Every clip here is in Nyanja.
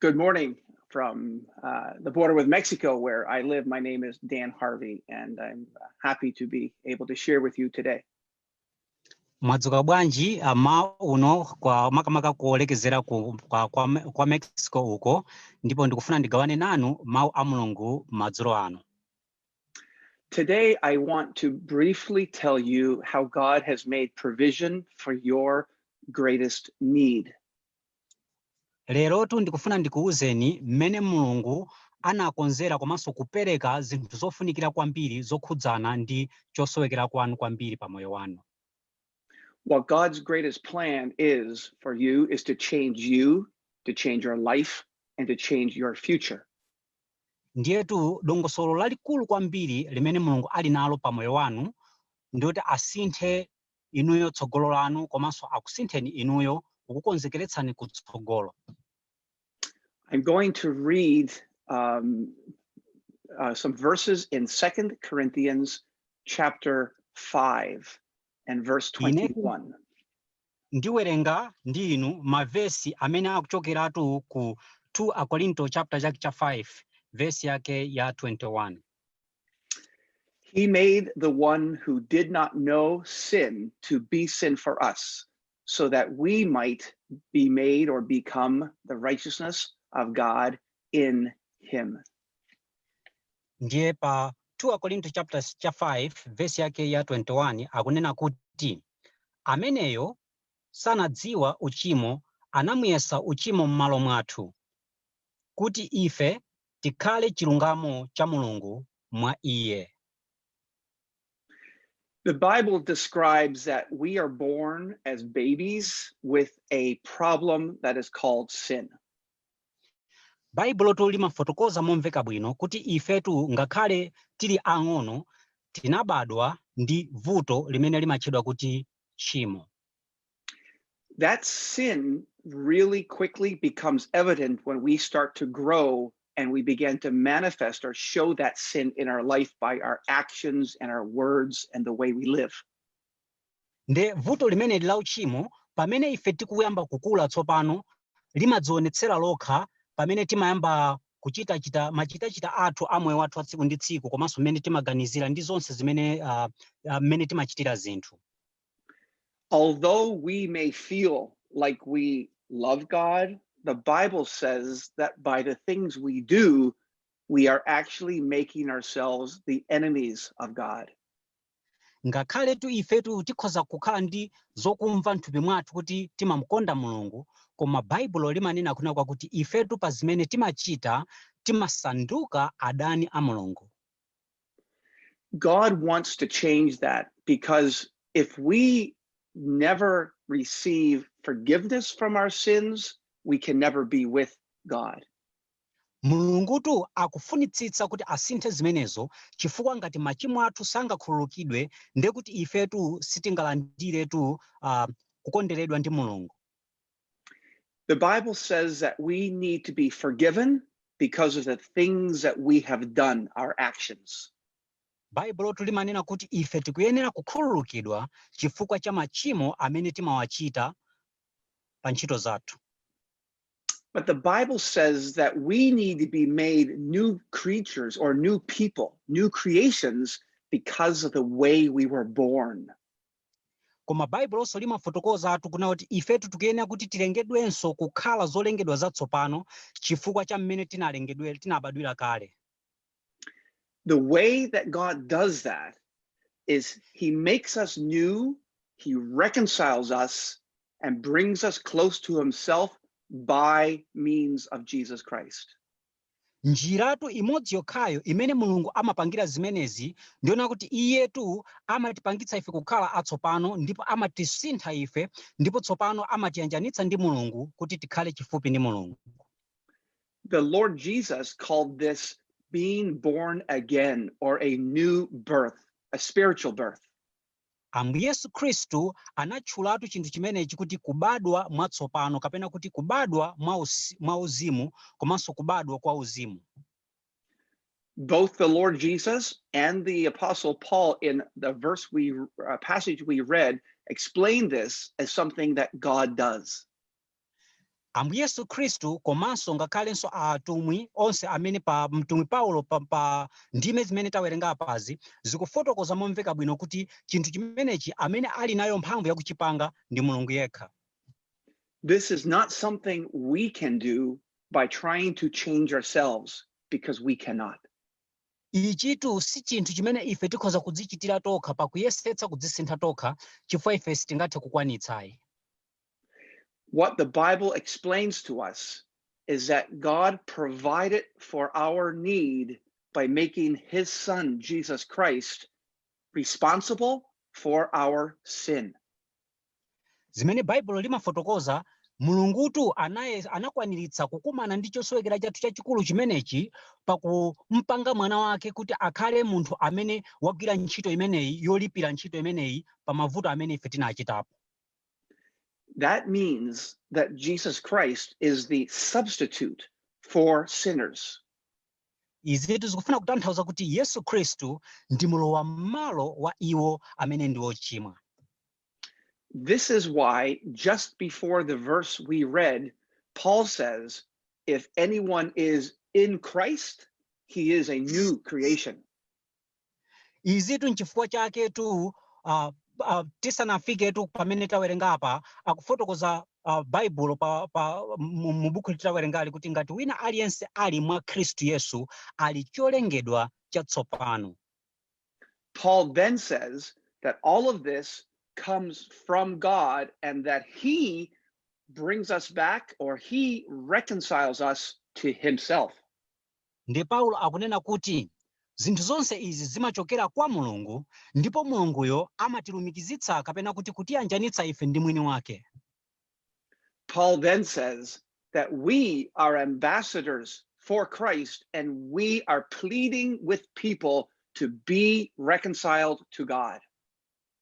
good morning from uh, the border with Mexico, where I live. My name is Dan Harvey, and I'm happy to be able to share with you today. mwadzuka bwanji mmawa uno kwa makamaka kuolekezera ku, kwa, kwa, Me- kwa mexico uko ndipo ndikufuna ndigawane nanu mawu a mulungu madzulo ano Today, I want to briefly tell you how God has made provision for your greatest need. Lerotu ndikufuna ndikuuzeni mmene Mulungu anakonzera komanso kupereka zinthu zofunikira kwambiri zokhudzana ndi chosowekera kwanu kwambiri pa moyo wanu. What God's greatest plan is for you is to change you, to change your life, and to change your future. Ndiyetu dongosolo lalikulu kwambiri limene Mulungu ali nalo pa moyo wanu ndi loti asinthe inuyo tsogolo lanu komanso akusintheni inuyo kukukonzekeretsani kutsogolo. I'm going to read um, uh, some verses in 2 Corinthians chapter 5 and verse 21. Ndiwerenga ndi inu mavesi amene akuchokeratu ku 2 Akorinto chapter chake cha 5 vesi yake ya 21. He made the one who did not know sin to be sin for us, so that we might be made or become the righteousness of God in him. Ndiye pa 2 Akorinto chapter cha 5 verse yake ya 21 akunena kuti ameneyo sanadziwa uchimo anamuyesa uchimo m'malo mwathu kuti ife tikhale chilungamo cha Mulungu mwa Iye. The Bible describes that we are born as babies with a problem that is called sin. Baibulotu limafotokoza momveka bwino kuti ifetu ngakhale tili ang'ono tinabadwa ndi vuto limene limatchedwa kuti tchimo. That sin really quickly becomes evident when we start to grow and we begin to manifest or show that sin in our life by our actions and our words and the way we live. nde vuto limeneli la uchimo pamene ife tikuyamba kukula tsopano limadzionetsera lokha pamene timayamba kuchitachita machitachita athu a moyo wathu a tsiku ndi tsiku komanso mmene timaganizira ndi zonse zimene ah, ah, mmene timachitira zinthu Although we may feel like we love God, the Bible says that by the things we do, we are actually making ourselves the enemies of God. ngakhaletu ifetu tikhoza kukhala ndi zokumva mthupi mwathu kuti timamukonda mulungu koma baibulo limanena kunena kwakuti ifetu pa zimene timachita timasanduka adani a mulungu God wants to change that because if we never receive forgiveness from our sins, we can never be with God. mulungutu akufunitsitsa kuti asinthe zimenezo chifukwa ngati machimo athu sangakhululukidwe ndekuti ifetu sitingalandiretu uh, kukonderedwa ndi mulungu The Bible says that we need to be forgiven because of the things that we have done, our actions. baibulotu limanena kuti ife tikuyenera kukhululukidwa chifukwa cha machimo amene timawachita pa ntchito zathu But the Bible says that we need to be made new creatures or new people, new creations because of the way we were born. Koma Baibulonso limafotokozatu kunena kuti ifetu tikuyenera kuti tilengedwenso kukhala zolengedwa zatsopano chifukwa cha mmene tinalengedwera, tinabadwira kale. The way that God does that is he makes us new, he reconciles us and brings us close to himself by means of Jesus Christ. Njiratu imodzi yokhayo imene Mulungu amapangira zimenezi ndi yonena kuti Iyetu amatipangitsa ife kukhala atsopano ndipo amatisintha ife ndipo tsopano amatiyanjanitsa ndi Mulungu kuti tikhale chifupi ndi Mulungu. The Lord Jesus called this being born again or a new birth, a spiritual birth. Ambuye Yesu Khristu anatchulatu chinthu chimenechi kuti kubadwa mwatsopano kapena kuti kubadwa mwa mwa uzimu komanso kubadwa kwa uzimu. both the Lord Jesus and the Apostle Paul, in the verse we uh, passage we read, explain this as something that God does. Ambuye Yesu Khristu komanso ngakhalenso a atumwi onse amene pa mtumwi Paulo pa, pa ndime zimene tawerenga apazi zikufotokoza momveka bwino kuti chinthu chimenechi amene ali nayo mphamvu yakuchipanga ndi Mulungu yekha. This is not something we can do by trying to change ourselves because we cannot. Ichitu si chinthu chimene ife tikhoza kudzichitira tokha pakuyesetsa kudzisintha tokha chifukwa ife sitingathe kukwanitsayi. What the Bible explains to us is that God provided for our need by making his son, Jesus Christ, responsible for our sin. Zimene Baibulo limafotokoza Mulungutu anakwaniritsa kukumana ndi chosowekera chathu chachikulu chimenechi pakumpanga mwana wake kuti akhale munthu amene wagwira ntchito imeneyi yolipira ntchito imeneyi pa mavuto amene ife tinachitapo That means that Jesus Christ is the substitute for sinners. Izitu zikufuna kutanthauza kuti Yesu Khristu ndi mulowammalo wa iwo amene ndi ochimwa This is why, just before the verse we read, Paul says, If anyone is in Christ, he is a new creation. izitu nchifukwa chaketu uh, uh, tisanafiketu pamene tawerenga apa akufotokoza uh, Baibulo pa, pa, mu mu buku tawerengali kuti ngati wina aliyense ali mwa Khristu Yesu ali cholengedwa chatsopano Paul then says that all of this comes from God and that He brings us back or He reconciles us to Himself. Ndiye Paulo akunena kuti zinthu zonse izi zimachokera kwa Mulungu ndipo Mulunguyo amatilumikizitsa kapena kuti kutiyanjanitsa ife ndi mwini wake. Paul then says that we are ambassadors for Christ and we are pleading with people to be reconciled to God.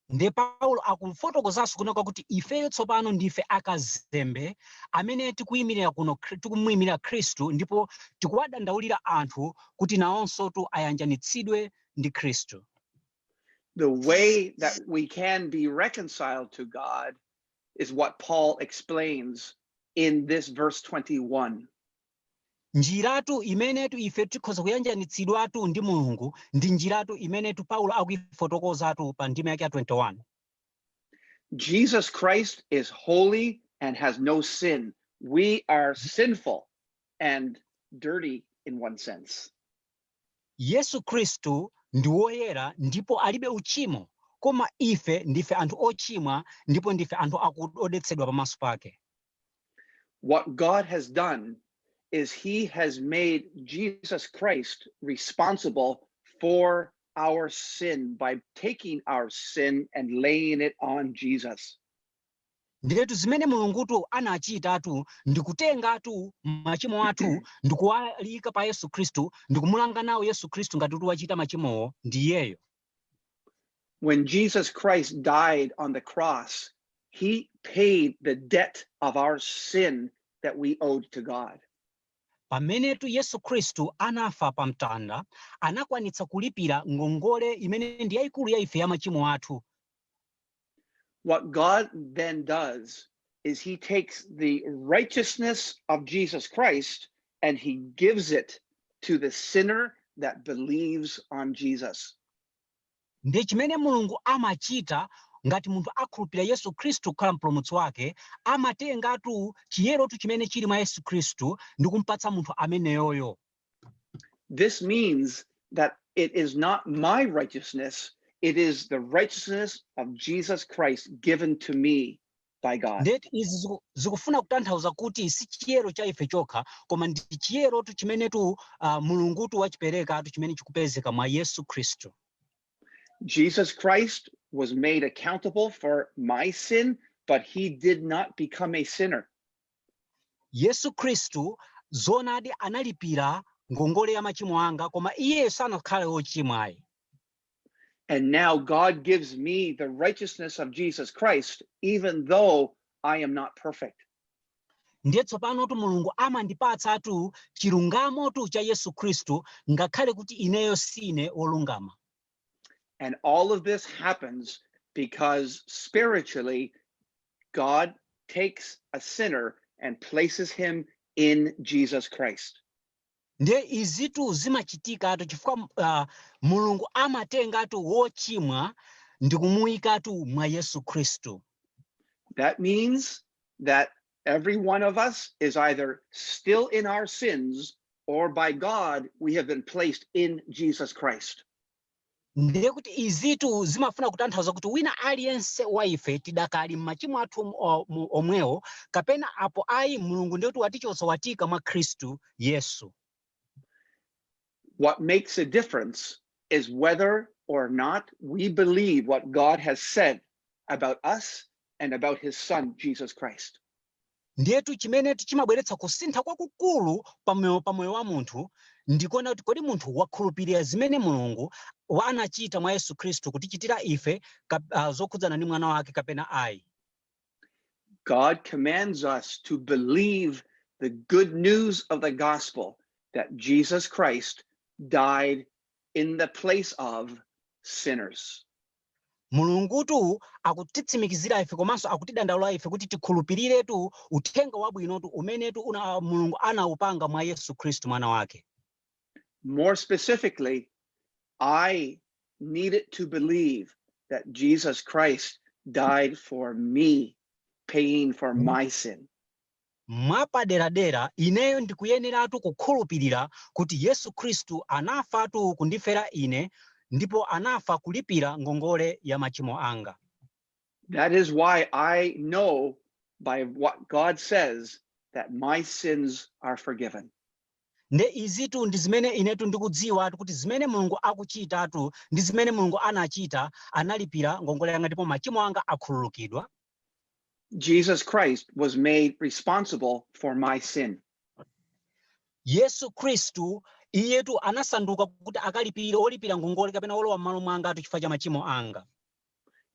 Ndiye Paulo akufotokozanso kunena kuti ifeyo tsopano ndife akazembe amene tikuyimirira kuno Khri- tikumuyimirira Khristu ndipo tikuwadandaulira anthu kuti nawonsotu ayanjanitsidwe ndi Khristu. The way that we can be reconciled to God is what Paul explains in this verse 21. Njiratu imenetu ife tikhoza kuyanjanitsidwatu ndi Mulungu ndi njiratu imenetu Paulo akuifotokozatu pa ndime yake ya 21. Jesus Christ is holy and has no sin. We are sinful and dirty in one sense. Yesu Khristu ndi woyera ndipo alibe uchimo, koma ife ndife anthu ochimwa ndipo ndife anthu akud odetsedwa pamaso pake. What God has done is he has made Jesus Christ responsible for our sin by taking our sin and laying it on Jesus. Ndiyetu zimene Mulungutu anachitatu ndi kutengatu machimo athu ndi kuwayika pa Yesu Khristu ndi kumulanga nawo Yesu Khristu ngati kuti wachita machimowo ndi iyeyo. When Jesus Christ died on the cross, he paid the debt of our sin that we owed to God. Pamenetu Yesu Khristu anafa pa mtanda, anakwanitsa kulipira ngongole imene ndi yayikulu ya ife ya machimo athu. What God then does is he takes the righteousness of Jesus Christ and he gives it to the sinner that believes on Jesus. Ndi chimene Mulungu amachita ngati munthu akhulupirira Yesu Khristu kukhala mpulumutsi wake, amatengatu chiyerotu chimene chili mwa Yesu Khristu ndi kumpatsa munthu ameneyoyo. This means that it is not my righteousness, it is the righteousness of Jesus Christ given to me by God. ndetu izi ziku- zikufuna kutanthauza kuti si chiyero cha ife chokha koma ndi chiyerotu chimenetu uh, mulungutu wachiperekatu chimene chikupezeka mwa yesu khristu Jesus Christ was made accountable for my sin, but he did not become a sinner. Yesu Khristu, zoonadi, analipira ngongole ya machimo anga, koma Iye sanakhale wochimwa ayi. And now God gives me the righteousness of Jesus Christ, even though I am not perfect. ndiye tsopanotu mulungu amandipatsatu chilungamotu cha yesu khristu ngakhale kuti ineyo sine wolungama And all of this happens because spiritually, God takes a sinner and places him in Jesus Christ. nde izitu zimachitikatu chifukwa uh, mulungu amatengatu wochimwa ndi kumuyikatu mwa yesu khristu That means that Every one of us is either still in our sins or by God we have been placed in Jesus Christ. ndiye kuti izitu zimafuna kutanthauza kuti wina aliyense wa ife tidakali m'machimo athu om- o- mu- omwewo kapena apo ayi mulungu ndiye kuti watichotsa watiika mwa khristu yesu What makes a difference is whether or not we believe what God has said about us and about his son, Jesus Christ. ndiyetu chimene chimabweretsa kusintha kwakukulu pamoyo pamoyo wa munthu ndikuona kuti kodi munthu wakhulupirira zimene mulungu anachita mwa yesu khristu kutichitira ife uh, zokhudzana ndi mwana wake kapena ayi God commands us to believe the good news of the gospel that Jesus Christ died in the place of sinners. mulungutu akutitsimikizira ife komanso akutidandaula ife kuti tikhulupiriretu uthenga wabwinotu umenetu mulungu anaupanga mwa yesu khristu mwana wake More specifically, I needed to believe that Jesus Christ died for me, paying for my sin. mwapaderadera ineyo ndikuyeneratu kukhulupirira kuti yesu khristu anafatu kundifera ine ndipo anafa kulipira ngongole ya machimo anga that is why i know by what god says that my sins are forgiven Nde izitu ndi zimene inetu ndikudziwatu kuti zimene Mulungu akuchitatu ndi zimene Mulungu anachita, analipira ngongole yanga ndipo machimo anga akhululukidwa. Jesus Christ was made responsible for my sin. Yesu Khristu iyetu anasanduka kuti akalipirire olipira ngongole kapena olowa m'malo mwangatu chifukwa cha machimo anga.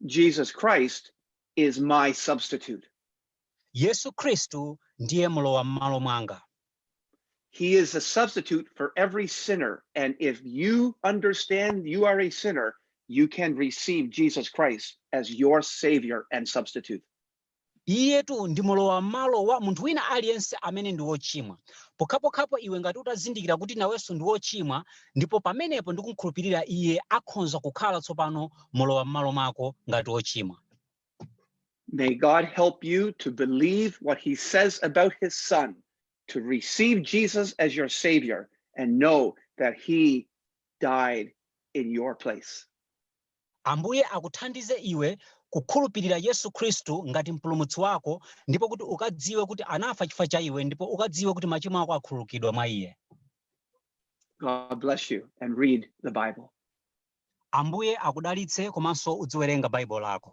Jesus Christ is my substitute. Yesu Khristu ndiye mlowam'malo mwanga. He is a substitute for every sinner. And if you understand you are a sinner, you can receive Jesus Christ as your savior and substitute. iyetu ndi mulowa m'malo wa munthu wina aliyense amene ndi wochimwa pokhapokhapo iwe ngati utazindikira kuti nawenso ndi wochimwa ndipo pamenepo ndikumkhulupirira iye akhonza kukhala tsopano mulowa m'malo mwako ngati wochimwa May God help you to believe what he says about his son, to receive Jesus as your savior and know that he died in your place. Ambuye akuthandize iwe kukhulupirira Yesu Khristu ngati mpulumutsi wako ndipo kuti ukadziwe kuti anafa chifukwa cha iwe ndipo ukadziwe kuti machimo ako akhululukidwa mwa iye. God bless you and read the Bible. Ambuye akudalitse komanso udziwerenga Baibulo lako.